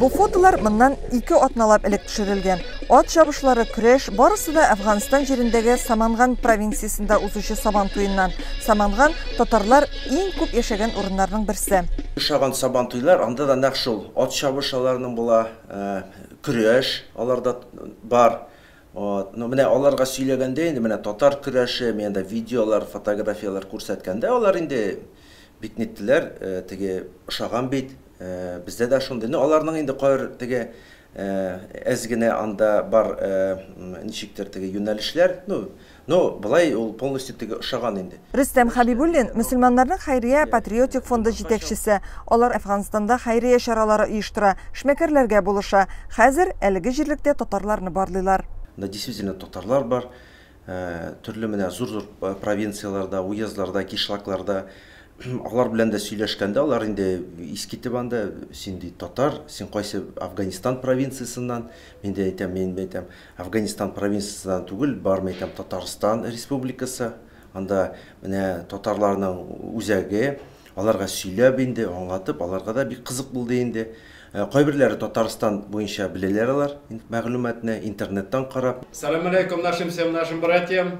Бу фотолар моннан ике атналап элек төшерелгән. Ат чабышлары, көрәш, барысы да Әфганстан җирендәге Саманган провинциясендә узучы Сабан туеннан. Саманган, татарлар иң күп яшәгән урыннарның берсе. Ошаган Сабан туйлар, анда да нәкъ шул, ат чабыш аларның була, көрәш аларда бар. Вот, ну менә аларга сөйләгәндә инде менә татар көрәше, мин анда видеолар, фотографияләр күрсәткәндә алар инде бик ниттеләр, теге ошаган бит, бездә дә шундый, ну аларның инде кайбер теге әз генә анда бар ничектер теге юнәлешләр, ну Ну, болай ул полностью теге ошаган инде. Рөстәм Хәбибуллин, мөселманнарның хәйрия патриотик фонды җитәкчесе. Алар Әфганстанда хәйрия чаралары оештыра, эшмәкәрләргә булыша. Хәзер әлеге җирлектә татарларны барлыйлар. Анда действительно татарлар бар. Төрле менә зур-зур провинцияләрдә, уездларда, кишлакларда. Алар белән дә сөйләшкәндә, алар инде искитеп анда, син, ди, татар, син кайсы Әфганстан провинциясеннән? Мин дә әйтәм, мин әйтәм, Әфганистан провинциясеннән түгел, бармы икән Татарстан Республикасы? Анда менә татарларның үзәге, аларга сөйләп инде, аңлатып, аларга да бик кызык булды инде. Кайберләре Татарстан буенча беләләр алар мәгълүматны, интернеттан карап. Салам алейкум нашим всем нашим братьям.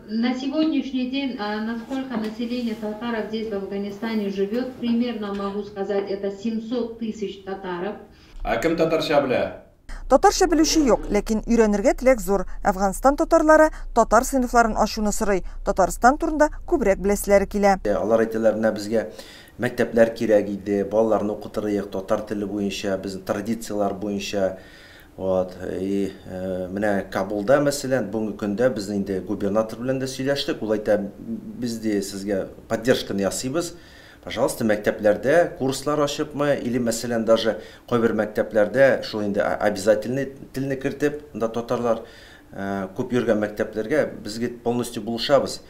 На сегодняшний день на сколько населения татаров здесь в Афганистане живет примерно могу сказать это 700 тысяч татаров. Ә кем татарча белә? Татарча белүче юк, ләкин өйрәнергә теләк зур. Әфганстан татарлары татар сыйныфларын ачуны сорый, Татарстан турында күбрәк беләселәре килә. Алар әйтәләр, менә безгә мәктәпләр кирәк иде, балаларны укытырыйк татар теле буенча, безнең традицияләр буенча. Вот, и менә Кабулда мәсәлән, бүгенге көндә без инде губернатор белән дә сөйләштек, ул әйтә, без ди сезгә поддержканы ясыйбыз, пожалуйста, мәктәпләрдә курслар ачыпмы, или мәсәлән даже кайбер мәктәпләрдә шул инде обязательный телне кертеп, монда татарлар күп йөргән мәктәпләргә без бит полностью булышабыз.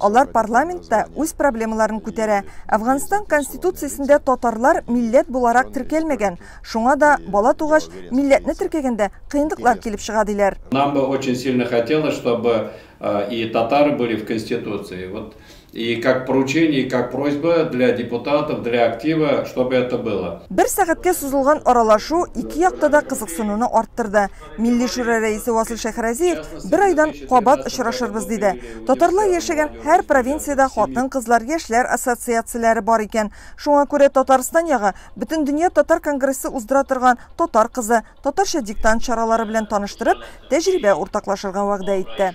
Алар парламентта үз проблемаларын күтәрә. Әфганстан конституциясендә татарлар милләт буларак теркәлмәгән. Шуңа да, бала тугач, милләтне теркәгәндә кыенлыклар килеп чыга, диләр. Нам бы очень сильно хотелось, чтобы и татары были в конституции. Вот и как поручение, и как просьба для депутатов, для актива, чтобы это было. Бер сәгатькә сузылган аралашу ике якта да кызыксынуны арттырды. Милли шура рәисе Васил Шәхразиев бер айдан кабат очрашырбыз диде. Татарлар яшәгән һәр провинциядә хатын-кызлар, яшьләр ассоциацияләре бар икән. Шуңа күрә Татарстан ягы Бөтендөнья татар конгрессы уздыра торган Татар кызы, татарча диктант чаралары белән таныштырып, тәҗрибә уртаклашырга вәгъдә итте.